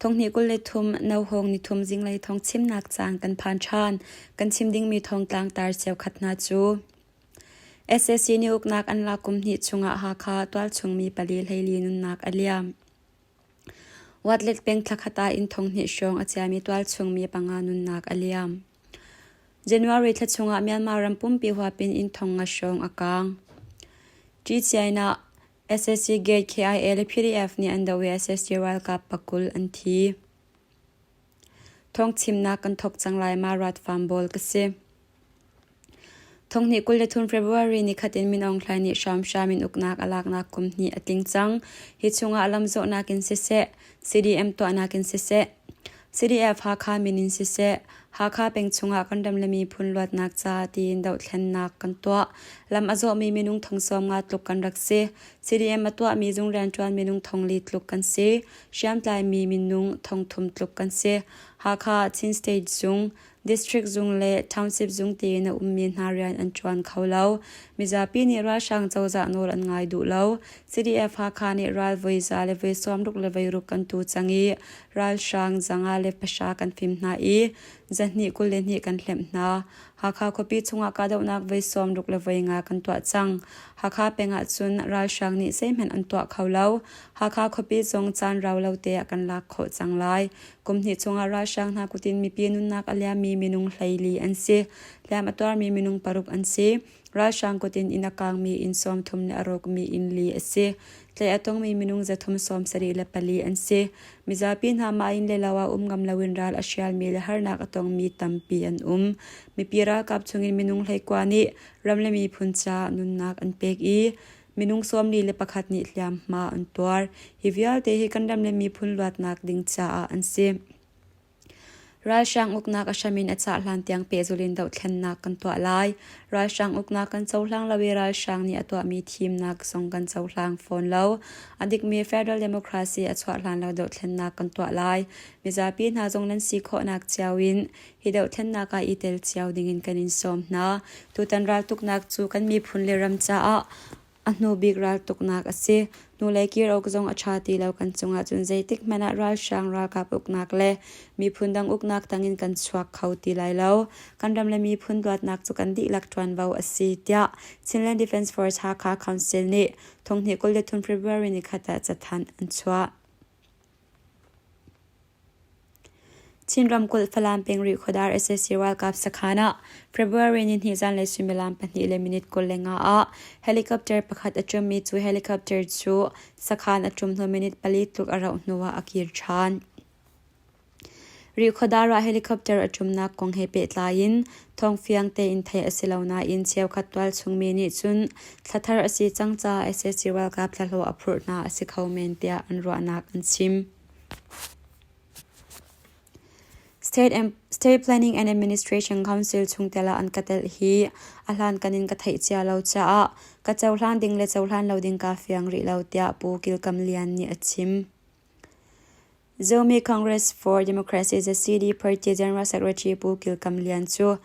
Thonghnih kul le thum No Hawng nithum zinglei thawngchimnak caang kan phan ṭhan. Kan chim dingmi thongtlang tar cheukhat hna cu SSC nih uknak an lak kum hnih chungah Hakha tualchungmi pali hleili nunnak a liam. Watlet peng thlakhata in thonghnih hrawng a chiami tualchungmi panga nunnak a liam. January thla chungah Myanmar ram pumpi huapin in thong nga hrawng a kaang. Ṭi Chiaina SSC Gate KIA le PDF nih an doh i SSC ralkap pakul an thi. Thong chimnak kan thok cang lai ma rat fam bawl ka si. Thong hnih kul le thun February ni khatin Min Aung Hlain nih hramhram in uknak alaknak kum hnih a tling cang. Hi chungah lamzawhnak in siseh, CDM tuahnak in siseh, CDF Hakha min in siseh, Hakha peng chungah kan ram le miphun luatnak ca tiin dohthlennak kan tuah. Lam a zawmi minung thong sawm nga tluk kan rak si. CDM a tuahmi zung rianṭuan minung thong li tluk kan si. Hriamtlai mi minung thong thum tluk kan si. Hakha Chin State Zung, District zung le township zung tein a ummi hna rian an ṭuan kho lo. Mizapi nih ralhrang cozah nawl an ngai duh lo. CDF Hakha nih ral voi za le voi sawmruk le voiruk kan tu cang i ralhrang zanga le pahra kan fim hna i zahnih kul le hnih kan hlemh hna. Hakha khuapi chungah kahdohnak voi sawmruk le voi nga kan tuah cang. Hakha peng ahcun ralhrang nih zeihmanh an tuah kho lo. Hakha khuapi zong caan rau lo te ah kan lak khawh cang lai. Kum hnih chungah ralhrang hna kut in mipi nunnak a liammi minung hleili an si. Hliam a tuarmi minung paruk an si. Ralhrang kut in inn a kaangmi inn sawm thum le a rawkmi inn li a si. Tlei a tongmi minung zathum sawm sarih le pali an si. Mizapi hna mah inn le lo ah um ngam loin ral a hrialmi le harnak a tongmi tampi an um. Mipi ralkap chungin minung hleikua nih ram le miphun caah nunnak an pek i Minung sawmli le pakhat nih hliamhma an tuar. Hi vialte hi kan ram le miphun luatnak ding caah an si. Ralhrang uknak a hramin a cah hlan tiang pehzulin dohthlennak kan tuah lai. Ralhrang uknak kan cohlang lo i ralhrang nih a tuahmi thimnak zong kan cohlang fawn lo. A dikmi Federal Democracy a chuah hlan lo dohthlennak kan tuah lai. Mizapi hna zong nan si khawhnak cio in I dohthlennak ah i tel cio dingin kan in sawm hna. Tutan raltuknak cu kan miphun le ram caah a hnubik raltuknak a si. Hnulei kir awk zong a ṭha ti lo kan cung ahcun zeitik hmanh ah ralhrang ralkap uknak le miphun dang uknak tangin kan chuak kho ti lai lo. Kan ram le miphun dawtnak cu kan dihlak ṭuanvo a si tiah Chinland Defence Force Hakha Council nih thonghnih kul le thum February ni khat ah cathanh an chuah. Chin ramkulh Falam peng rih khuadar SSC ralkap sakhan ah February nihnih zanlei suimilam pahnih le minute kul le nga ah helicopter pakhat a ṭummi cu helicopter cu sakhan a ṭum hnu minute pali tluk a rauh hnu ah a kir ṭhan. Rih khuadar ah helicopter a ṭumnak kong he pehtlai in thawng fiang tein theih a si lo nain cheukhat tualchungmi nih cun thlathar a si cang caah SSC ralkap thlahlawh a phurh hna a si kho men tiah an ruahnak an chim. State Planning and Administration Council chungtel ah an ka telh hi a hlankan in ka theih cia lo caah ka cohlan ding le cohlan lo ding kaa fiang rih lo tiah Pu Kilkam Lian nih a chim. Zomi Congress for Democracy the CD party General Secretary Pu Kilkam Lian cu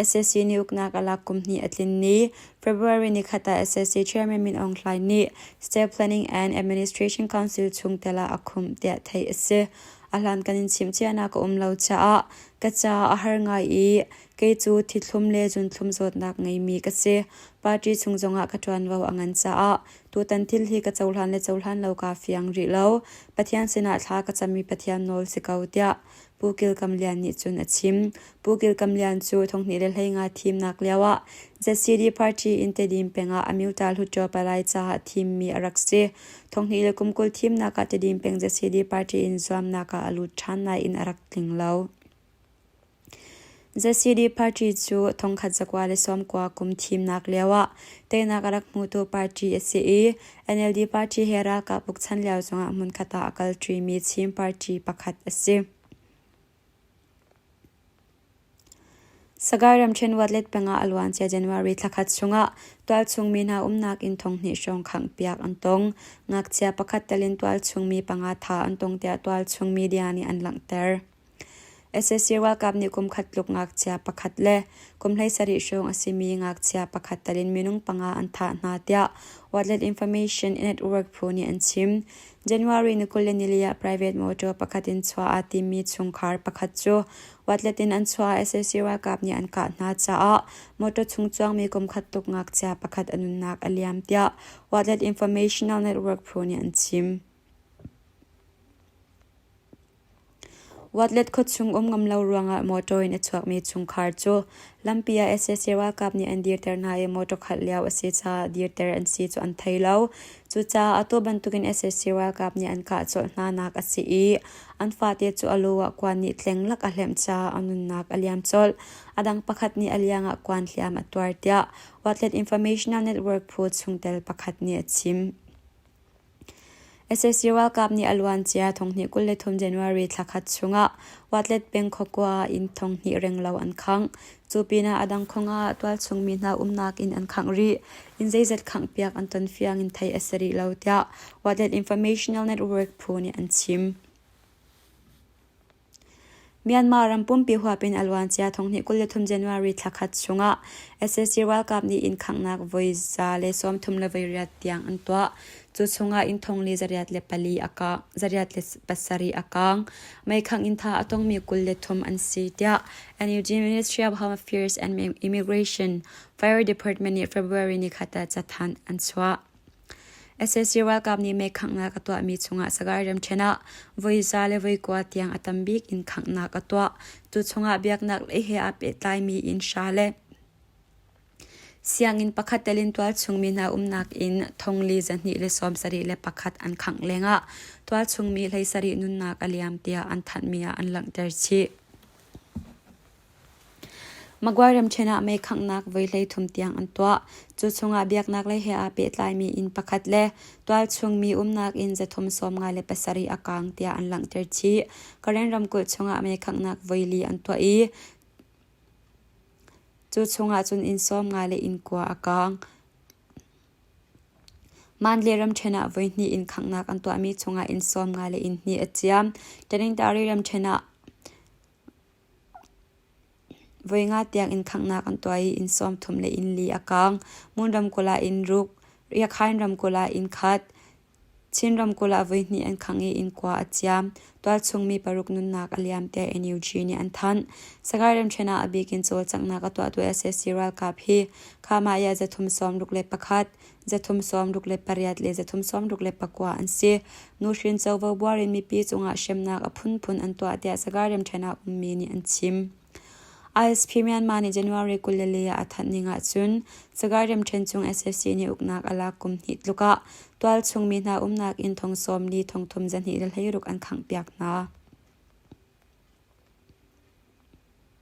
SAC nih uknak a lak kum hnih a tlin ni February ni khat ah SSC Chairman Min Aung Hlaing nih State Planning and Administration Council chungtel ah a khumh tiah theih a si. A hlan kan in chimchiahnak ka um lo caah ka caah a har ngai i kei cu thithlum le zunthlum zawtnak ngeimi ka si. Party chung zongah ka ṭuanvo a ngan caah tutan thil hi ka cohlan le cohlan lo kaa fiang rih lo. Pathian sinah thla ka cammi Pathian nawl si ko tiah Pu Kil Kam Lian nih cun a chim. Pu Kil Kam Lian cu thonghnih le hleinga thimnak lioah ZCD party in Tedim pengah Amyota Hluttaw palai caah thimmi a rak si. Thonghnih le kum kul thimnak ah Tedim peng ZCD party in zuamnak ah a lut ṭhan nain a rak tling lo. ZCD party cu thongkhat zakua le sawmkua kum thimnak lioah teinak a rak hmutu party a si i NLD party he ralkap bukchan lio zongah hmunkhat ah a kal ṭimi Chin party pakhat a si. Sagaing ramṭhen Watlet pengah a luancia January thlakhat chungah tualchungmi hna umnak inn thonghnih hrawng khanghpiak an tong. Ngakchia pakhat telin tualchungmi panga tha an tong tiah tualchung media nih an langhter. sac ralkap nih kumkhat tluk ngakchia pakhat le kum hleisarih hrawng a simi ngakchia pakhat tal in minung panga an thah hna tiah watlet information network phu nih an chim january ni kul le nili ah private motor pakhat in chuah aa timmi chungkhar pakhat cu watlet in an chuah ah sac ralkap nih an kah hna caah motor chung cuangmi kumkhat tuk ngakchia pakhat a nunnak a liam tiah watlet informational network phu nih an chim Watlet khuachung um ngam lo ruangah motor in a chuakmi chungkhar cu lampi ah sac ralkap nih an dirter hna i motor khalh lio a si caah dirter an si cu an thei lo. Cucaah atu bantukin sac ralkap nih an kah colh hnanak a si i an fate cu a lu ah kuan nih tlenglak a hlemh caah a nunnak a liam colh. A dang pakhat nih a liangah kuan hliam a tuar tiah Watlet Informational Network phu chungtel pakhat nih a chim. sac ralkap nih a luancia thonghnih kul le thum January thla khat chungah Watlet peng khawkua ah inn thonghnih renglo an khangh. Cu pinah a dang khawng ah tualchungmi hna umnak inn an khangh rih. Inn zeizat khanghpiak an ton fiang in theih a si rih lo tiah Watlet Informational Network phu nih an chim. Myanmar ram pumpi huap in a luancia thonghnih kul le thum January thla khat chungah SSC ralkap nih inn khanghnak voi za le sawmthum le voi riat tiang an tuah. Cu chungah inn thong li zariat le pali a kaang, zariat le pasarih a kaang. Meikhangh inn tha a tongmi kul le thum an si tiah Energy Ministry of Home Affairs and Immigration Fire Department nih February ni khat ah cathanh an chuah. SSC ralkap nih meekhanghnak a tuahmi chungah Sagaing ramṭhen ah voiza le voikua tiang a tam bik in khanghnak a tuah. Tu chungah biaknak lei he aa pehtlaimi inn hra le sianginn pakhat tel in tualchungmi hna umnak inn thongli zahnih le sawm sarih le pakhat an khangh lengah tualchungmi hlei sarih nunnak a liam tiah an thanhmi ah an langhter chih. Maguire ramṭhen ah meikhanghnak voi hleithum tiang an tuah. Cu chungah biaknaklei he aa pehtlaimi inn pakhat le tualchungmi umnak inn zathum sawmnga le pasarih a kaang tiah an langhter chih. Karen ramkulh chungah meikhanghnak voi li an tuah i cu chungah cun inn sawmnga le innkua a kaang. Mandalay ramṭhen ah voihnih inn khanghnak an tuahmi chungah inn sawmnga le inn hnih a ciam. Tanintari ramṭhen ah Voi nga tiang inn khanghnak an tuah i inn sawmthum le inn li a kaang. Ngun ramkulh ah inn ruk, Riakhain ramkulh ah inn khat, Chin ramkulh ah voihnih an khang i inn kua a ciam. Tualchungmi paruk nunnak a liam tiah NUG nih an thanh. Sagaing ramṭhen ah a bikin cawlcanghnak a tuahtu SSC ralkap hi Khamah Yah zathum sawm ruk le pakhat, Zathum sawmruk le pariat le zathum sawmruk le pakua an si. Nuhrin covo buar in mipi cungah hremnak a phunphun an tuah tiah sagar remṭhennak ummi nih an chim. ISP Myanmar nih January kul le le ah a thanh ning ahcun sagar remṭhen chung SSC nih uknak a lak kum hnih tluk ah tualchung mi hna umnak inn thong sawm li thongthum zahnih le hleiruk an khangh piak hna.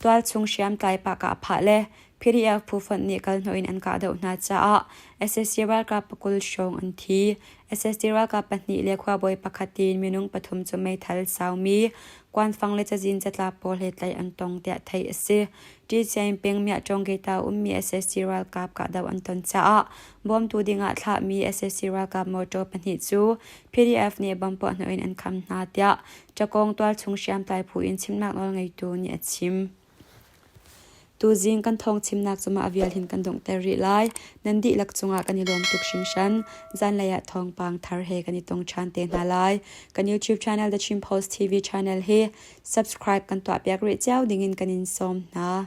Tualchung hriamtlai pahka a phah le PDF phu fonh nih kalhnawh in an kah deuh hna caah SSC ralkap pakul hrawng an thi. SSC ralkap pahnih le khuabawi pakhat tiin minung pathum cu meithal saumi Kwanfang le cazin catlap pawl he tlaih an tong tiah theih a si. Ṭi Chiain peng Myah-Ṭawng-Keita ummi SSC ralkap kahdoh an ton caah bawmtu dingah thlahmi SSC ralkap motor pahnih cu PDF nih bom puahhnawh in an kham hna tiah Ṭakawng tualchung hriamtlai phu in chimnak nawl ngeitu nih a chim. Tuzing kan thawngchimnak cungah a vialhin kan donghter rih lai. Nan dihlak cungah kan i lawm tuk hringhran. Zanlei ah thawngpang thar he kan i tong ṭhan te hna lai. Kan YouTube channel The Chin Post TV channel hi subscribe kan tuahpiak rih cio dingin kan in sawm hna.